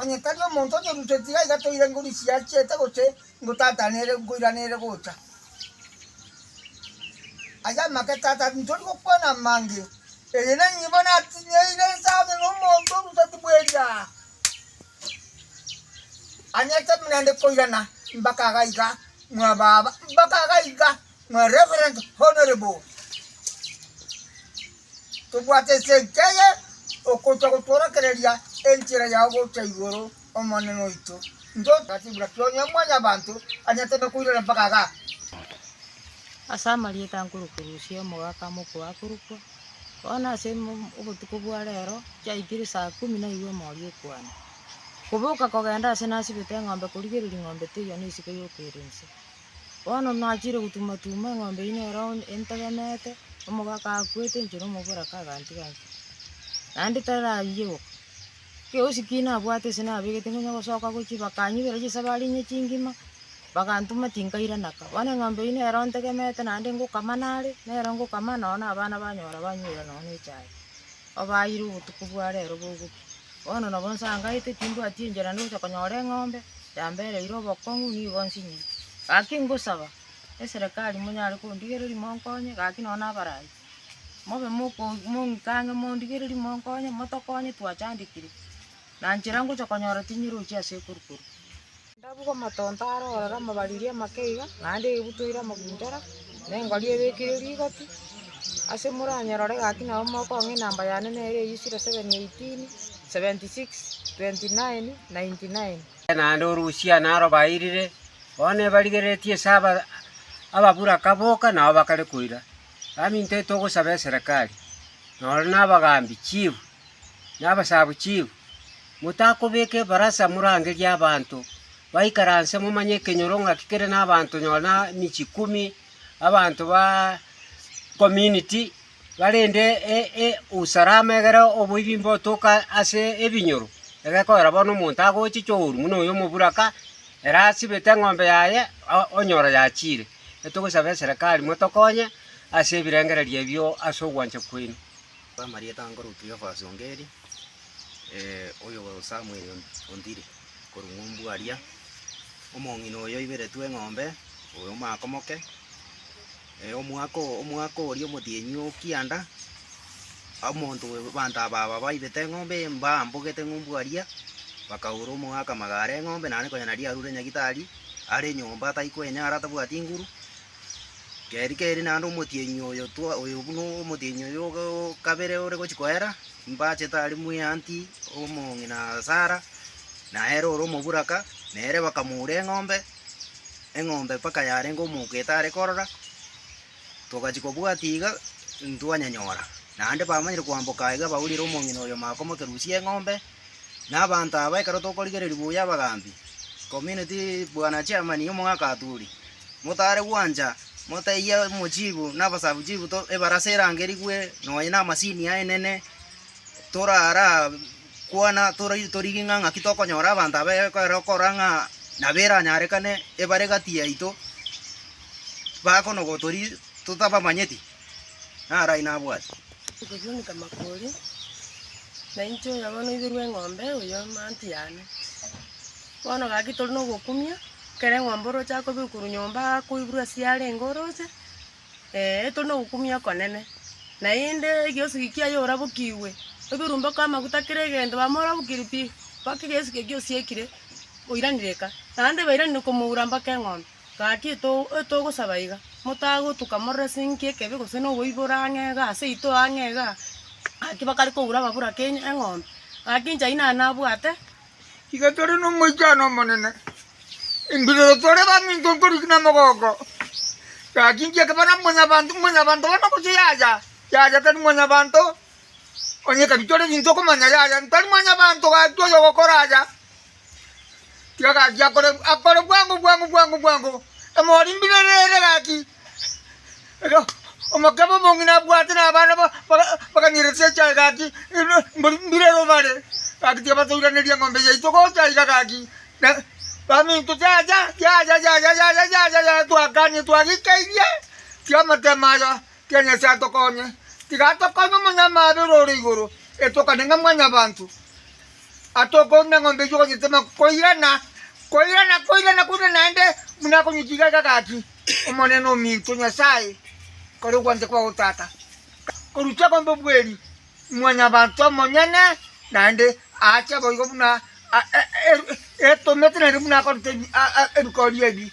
Onye tari omonto onyorute, tiga iga toire ngorisia achiete gose ngotata nere nkoira nere gocha. Ase amake tata ntori gokwana amange, eye nenibo natinyeire nse amo nomonto oruteti bweria. Anyete buna ande koirana mbaka iga iga mwa baba, mbaka iga iga mwa reverend honourable. Tobwate ense enchia eye okochia gotworokereria enchera yao gocha igoro, Omonene oito. Intwe tibura ki'onye omwanyabanto anyarete nokoirera mpaka igaa. Ase amarieta ankuru korusia omogaka mokwe akorokwa, bono ase obotuko bwa rero chiaikire saa kumi naigwe emori ekwane. Koboka kogenda ase nasibete eng'ombe korigereria ng'ombe teiyo nesiko yokeire inse. Bono nachiire gotuma-tuma eng'ombe eyio nero entegemeete, omoga akakwete inche na omoboraka agantiga inche. Naende tarayie goka, giosi ki nabwate ase nabegete ngonya gosoka gochia bakanyibera chisabari inye chingima, bagantuma tinkairana ka. Bono eng'ombe eyio nero ntegemeete naende ngokama nare, nero ngokama nonye na abana banyora banywire nonye na echae, obaeire obotuko bwa rero bogoki. Bono nabo nsangaete, timbwati enchera nde gocha konyora eng'ombe yambereire obokong'u, nigo nsinyire. Gaki ngosaba eserekari monyare kondigereria monkonye, gaki nonya nabarai, mobe moko- mong'ike ang'e mondigererie monkonye, motokonye twachandekire, na nchera ngocha konyora tinyerochia ase ekuru korwa. Ndabugwa amatonto are ororo amabariri amake iga, naende egebutu eira amagundere, na engori ebekire rigoti, ase moranyerore gaki nabo mokong'a enamba yane nere eyio zero, seven, eighteen, seventy six, twenty nine, ninety nine. naende orusia naro bairire, bono ebarigereretie ase aba ababuraka boka nabo bakare koira, baminto etogosaba eserekari, noro nabagambi, chief, na abasabu chief, Motakobeka ebarasa morangerie abanto baikaranse momanye ekenyoro ng'aki kere nabanto nonya emichi ikomi, abanto ba community barende usalama egere oboibimba otoke ase ebinyoro. Egekogera bono omonto agochicha ouru buna oyo omoburaka ere asibete eng'ombe yaye onyora yachiire. Nabo togosaba eserekari motokonye ase ebirengererio ebio ase ogwancha kwaino. Amarieta anga ore Kleofas o Ngeri, oyo Samuel ontire korwa ng'umbu aria, omong'ina oyo oiberetwe eng'ombe, oyo omwaka omoke, omwaka omwaka oria omotienyi o kianda, omonto oyo abanto aba aba baibete eng'ombe eye mbambogete ng'umbu aria, bakaura omogaka magare eng'ombe, naende konya naria arure nyagitari are enyomba atari kwenyara atabwati nguru, Geri geri naende omotienyi oyo twa- oyo buna omotienyi oyo ogo o kabere ore gochia koera, mbachete aria mweanti omong'ina Sara, na ere ore omoburaka, na ere bakamoura eng'ombe, eng'ombe mpaka yarenge omoka etare korora, togachia kobwatia iga ntwanyanyora. Naende bamanyire koamboka iga baurire omong'ina oyo makomokerusia eng'ombe. Na abanto aba ekero tokorigereria buya abagaambi, community, bwana chairman y'omogaka aturi, motare gwancha motaiya omo chief na aba sub chief ebarasa erangerigwe nonya na amasini aye nene, torara kwana tori- torigi ng'a ng'aki tokonyora abanto aba ekero okora ng'a nabo eranyarekane ebare gati yaito bakonogotori totabamanyeti. Naro ayio nabwati. Okosunika makori, nainche oyo bono oiberwe eng'ombe oyo aunty yane. Bono gaki tore na ogokumia, ekero eng'ombe oroche akoba korwa nyomba akoiborwa ase yarenge oroche, eeh tore na ogokumia okonene. Naende egesugi kiaye orabokigwe, oberumbe kwa amaguta kera egento bamorabokire pi, mpaka egesugi ekio osiekire oiranire eka. Naende bairanire komoura mpaka eng'ombe. Gaki etogosaba iga, motagotuka morore ase enki ekebi gose noboiboro ang'e igaa ase ito ang'e igaa. Gaki bakare kogura ababuraki eng'ombe, gaki inche ayio nare nabwate. Iga tore nomoichano omonene, embirero tore baminto nkoriki namogooko, gaki inche ekaba naba mwanyabanto, mwanyabanto bono gose yaya, yaya tari mwanyabanto, onye ekabitore ebinto okomanya yaya ntari mwanyabanto gaki oyogokora aya. Egaki akore akore bwango bwango bwango bwango, emori mbirere ere egaki. Erio omokebe omong'ina abwate na abana ba- ba- bakanyeretie echae gaki, ere mbori mbirero bare, gaki tiga batoiraneria eng'ombe yaito gocha iga gaki. Na baminto tiacha yacha yacha yacha yacha yacha twakanie twagikeirie, tiga amatemo aya, tiga Nyasaye atokonye, tiga atokonye omonyama abe ore ore igoro, etokane ng'a mwanyabanto. Ata okoru neng'ombe eyio ogonyetema koirana, koirana, koirana, koirana naende buna akonyechiga iga gaki, Omonene ominto, Nyasae kare ogwancha kwao tata, korusia kombe obweri Mwanyabaanto omonyene, naende aache boigo buna etomete naende buna akorete ebikoori ebi.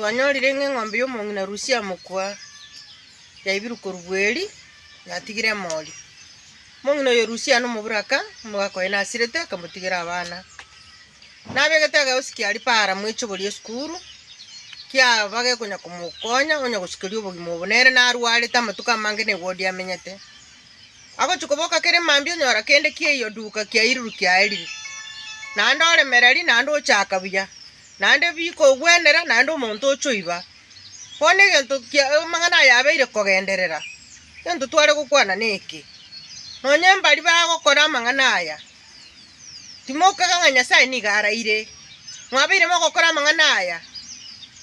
Twanyorire ng'a eng'ombe y'omong'ina Rusia amokwa yaibirwe korwa bweri, yatigire emori. Omong'ina oyo Rusia nomoburaka, omogaka oye nasirete, akamotigera abana. Nabegete egeosi kia ripara mwaichobori esukuru, kiaba gekonya komokonya onya gosukeria obogima obo. Nere narwarete amatuko amange ne wodi amenyete. Agochia koboka kere mambia onyora kende kiaiyo duka kiairirwe kiaerire. Naende ore mereri, naende ochaka buya. Naende bikogwenera, naende omonto ochoiba. Bono egento kia amang'ana aya abeire kogenderera, egento tware gokwana neke, Nonya mbari bagokora amang'ana aya, timokega ng'a Nyasae nigo araire. Mwabeire mogokora amang'ana aya,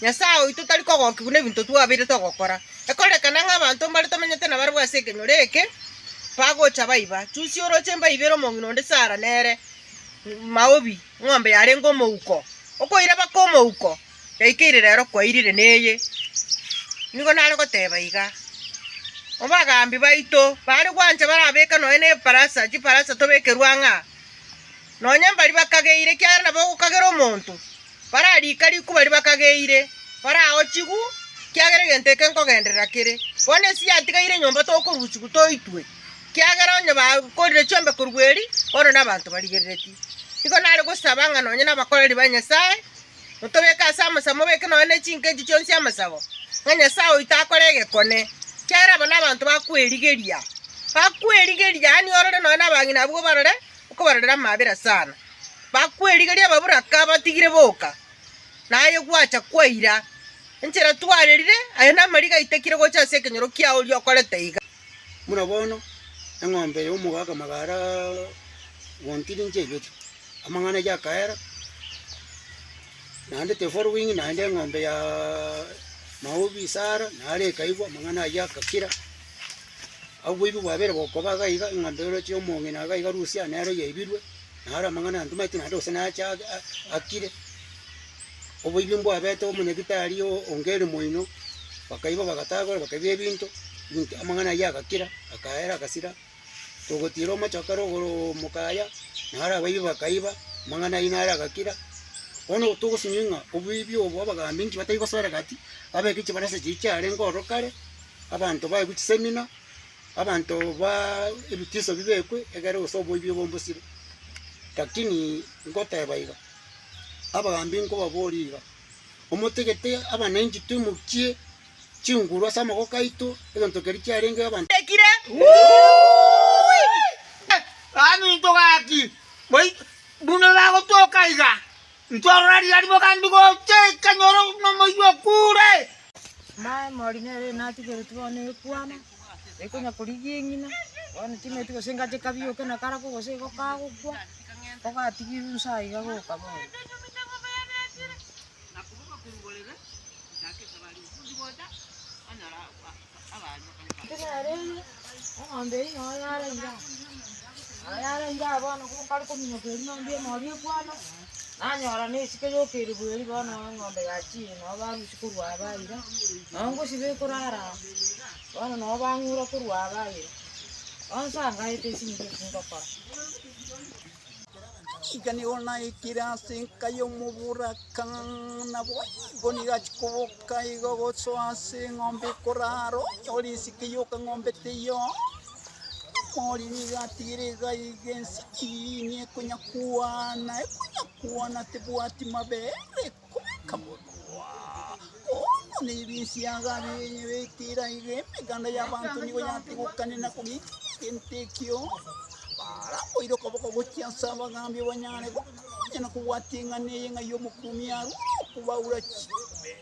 Nyasae oito tari kogokia buna ebinto twabeire togokora. Ekorekana ng'a abanto mbare tomenyete nabarabwo ase ekenyoro eke bagocha baiba. Chusia oroche mbaibe ere omong'ina onde Sara nere maobi. Ng'ombe yarenge omouko okoiraba kw'omouko yaikeire rero kwairire neye. Nigo nare goteba iga, Obagambi baito baare gwancha barabeke nonya nefarasa, chifarasa tobekerwe ang'a, nonya mbari bakageire, ekiagera nabo ogokagera omonto, bararika riku bari bakageire, baraao chigu, ekiagera egento eke nkogenderera kere. Bono esi yatigaire nyomba tokorusia toitwe. Kiagera onye bakorire chiombe korwa eri, bono nabanto barigerereti. Nigo nare gosaba ng'a nonye nabakoreri ba Nyasae, otobeke ase amosabo mobeke nonye ne chinka echi chionsi amosabo, ng'a Nyasae oito akore egekone, kiagera aba nabanto bakwerigeria, bakwerigeria, yaani orore nonye nabang'ina abwo obarore, okobarorera amaabera sana. Bakwerigeria babura ka batigire boka, naye gwacha kwaira. Enchera twarerire, aye namariga aitekire gocha ase ekenyoro kiao oria okorete iga. Buna bono, eng'ombe y'omogaaka magara gontiri inche egete, amang'ana aye akaera, naende the following naende eng'ombe ya maobi Sara nare ekaigwa, amang'ana ayio agakira. Abwo boigo bwabere bokoba iga iga, eng'ombe oroche omong'ina iga iga Rusia nero yaibirwe, naro amang'ana antameti naende gose nache ake akire. Oboibi mbwabete omonyabitari onge ere moino, bakaiba bagatagora bakaiba ebinto ebinto amang'ana ayio agakira, akaera agasira, togotiira omochoka ere igoro omoka aya, naro abaibi bakaiba, amang'ana ayio naro agakira. Bono togosinyia ng'a oboibi obo abagambi inki batai gosore gati, babeke chibarasa chiria chiarenge ororo kare, abanto baigwe chisemina, abanto baa ebitiso bibekwe egere gose oboibi obo mbosire. Lakini ngoteba iga. Abagaambi nkobaboria iga, Omotegete abanenchi twimokie chinguru ase amaboko aito, egento keria chiarenge abanto batekire? Abaminto gaki, boi- buna bagotoka iga, ntorora riria riboka ndigocha ekanyoro nomoiywa okure. Naye Morineri natigeretie bono ekwama. Taikonya korigia eng'ina, bono timanyeti gose engache kabioke na karako gose igo kagokwa, kogatigirwe inse aye iga goka bono. Intwe nere eye, eng'ombe eyio noo yaraira aa. Noo yaraira aa bono ko- kare kominyoka eria eng'ombe eye nori ekwana. Nanyora nesike y'okeirigwa erio, bono eng'ombe yachire, nabo barusia korwa aba ira, nao ngosiba ekorara aa, bono nabo bang'ura korwa aba ira. Bono sangaete ase eng'encho y'eki ngokora. Iga nigo naikire ase enka y'omoboraka, naboigo nigo achia koboka iga gosoa ase eng'ombe ekorara, onyore esike y'okang'ombe teiyo. Ori nigo atigire iga iga ense eyiini ekonyakwana, ekonyakwana tebwati mabere, ekomeka bokong'wa. Bono na ebinsi yago abinye betire aiga, emeganda y'abanto nigo yatigokane na kogika egento ekio. Baraboire okoboko gochia ase abagaambi banyare gokora, onye na kobwata eng'ana eye ng'ai omokuumi arure okobaura chimbe.